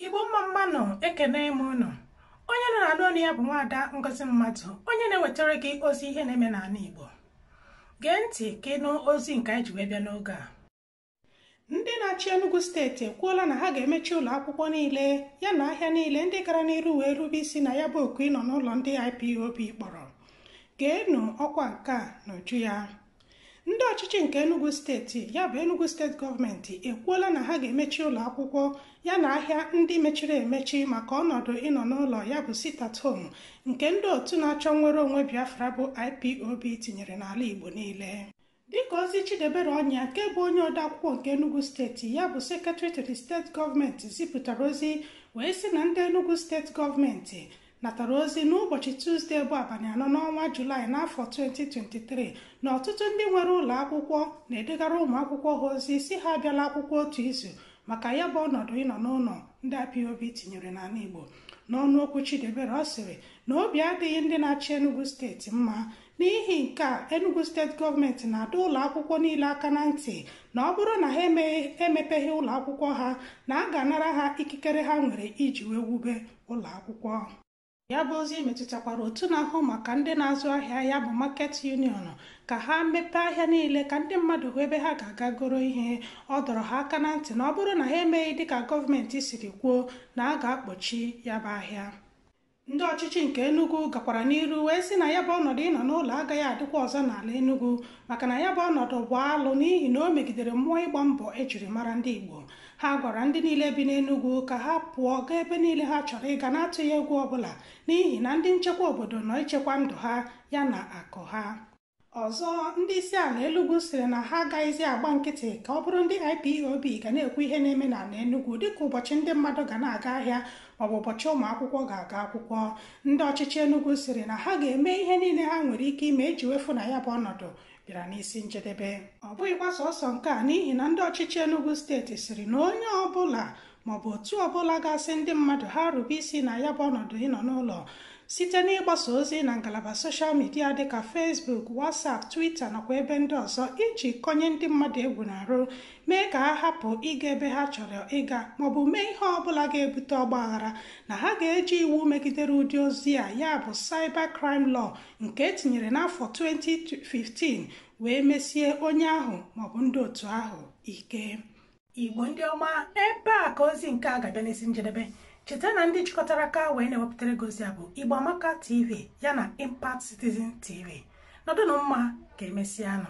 igbo mma mma nụ ekene m ụnụ onye ụnụ na-anụ onu ya bụ nwaada ngozi mmadụ onye na-ewetara gị ozi ihe na-eme n'ala igbo gee ntị ka ị nụ ozi nke anyị ji wee bịa n'oge a ndị na-achị Enugwu steeti ekwuola na ha ga-emechi ụlọ akwụkwọ niile ya na ahịa niile ndị gara n'iru wee rube isi na ya bụ oku ịnọ n'ụlọ ndị IPOB kpọrọ geenụ ọkwa nke a n'uju ya ndị ọchịchị nke Enugwu steeti ya bụ Enugwu steeti gọọmenti ekwuola na ha ga-emechi ụlọ akwụkwọ ya na ahịa ndị mechiri emechi maka ọnọdụ ịnọ n'ụlọ ya bụ sit at home nke ndị otu na-achọ nnwere onwe Biafra bụ IPOB tinyere n'ala Igbo niile dịka ozi Chidiebere Onyia nke bụ onye odeakwụkwọ nke Enugwu steeti ya bụ secretary to the steeti gọọmenti zipụtara ozi wee sị na ndị Enugwu steeti gọọmenti natara ozi n'ụbọchị Tuzdee bụ abalị anọ n'ọnwa Julaị n'afọ 2023 na ọtụtụ ndị nwere ụlọ akwụkwọ na-edegara ụmụ akwụkwọ ha ozi sị ha abịala akwụkwọ otu izu maka ya bụ ọnọdụ ịnọ n'ụlọ ndị IPOB tinyere n'ala Igbo n'ọnụ okwu Chidiebere ọ sịrị na obi adịghị ndị na-achị Enugwu steeti mma n'ihi nke a Enugwu steeti gọọmenti na-adọ ụlọ akwụkwọ niile aka na ntị na ọ bụrụ na ha emepeghị ụlọ akwụkwọ ha na a ga-anara ha ikikere ha nwere iji wee wube ụlọ akwụkwọ ya bụ ozi metụtakwara otu na-ahụ maka ndị na-azụ ahịa ya bụ market union ka ha mepee ahịa niile ka ndị mmadụ hụ ebe ha ga-aga goro ihe ọ dọrọ ha aka na ntị na ọ bụrụ na ha emeghị dịka gọọmenti siri kwuo na a ga-akpọchi ya bụ ahịa ndị ọchịchị nke Enugwu gakwara n'iru wee sị na ya bụ ọnọdụ ịnọ n'ụlọ agaghị adịkwa ọzọ n'ala Enugwu maka na ya bụ ọnọdụ bụ alụ n'ihi na o megidere mmụọ ịgba mbọ e jiri mara ndị Igbo ha gwara ndị niile bi n'Enugwu ka ha pụọ gaa ebe niile ha chọrọ ịga n'atụghị egwu ọbụla n'ihi na ndị nchekwa obodo nọ ichekwa ndụ ha ya na akụ ha ọzọ ndị isi ala Enugwu sịrị na ha agaghịzi agba nkịtị ka ọ bụrụ ndị IPOB ga na-ekwu ihe na-eme n'ala Enugwu dịka ụbọchị ndị mmadụ ga na-aga ahịa maọbụ ụbọchị ụmụ akwụkwọ ga-aga akwụkwọ ndị ọchịchị Enugwu sịrị na ha ga-eme ihe niile ha nwere ike ime iji wee fụ na ya bụ ọnọdụ bịara n'isi njedebe ọ bụghịkwa sọsọ nke a n'ihi na ndị ọchịchị Enugwu steeti sịrị na onye ọbụla maọbụ otu ọbụla ga-asị ndị mmadụ ha rube isi na ya bụ ọnọdụ ịnọ n'ụlọ site n'ịgbasa ozi na ngalaba soshal midia dịka Facebook WhatsApp Twitter nakwa ebe ndị ọzọ iji kụnye ndị mmadụ egwu n'arụ mee ka ha hapụ ịga ebe ha chọrọ ịga maọbụ mee ihe ọbụla ga-ebute ọgbaghara na ha ga-eji iwu megidere ụdị ozi a ya bụ cyber crime law nke etinyere n'afọ 2015 wee mesie onye ahụ maọbụ ndị otu ahụ ike igbo ndị ọma ebe a ka ozi nke a ga-abịa n'isi njedebe cheta na ndị jikọtara aka wee na-ewepụtara gị ozi a bụ igbo amaka tv ya na impact citizen tv nọdụnụ mma ka emesịanụ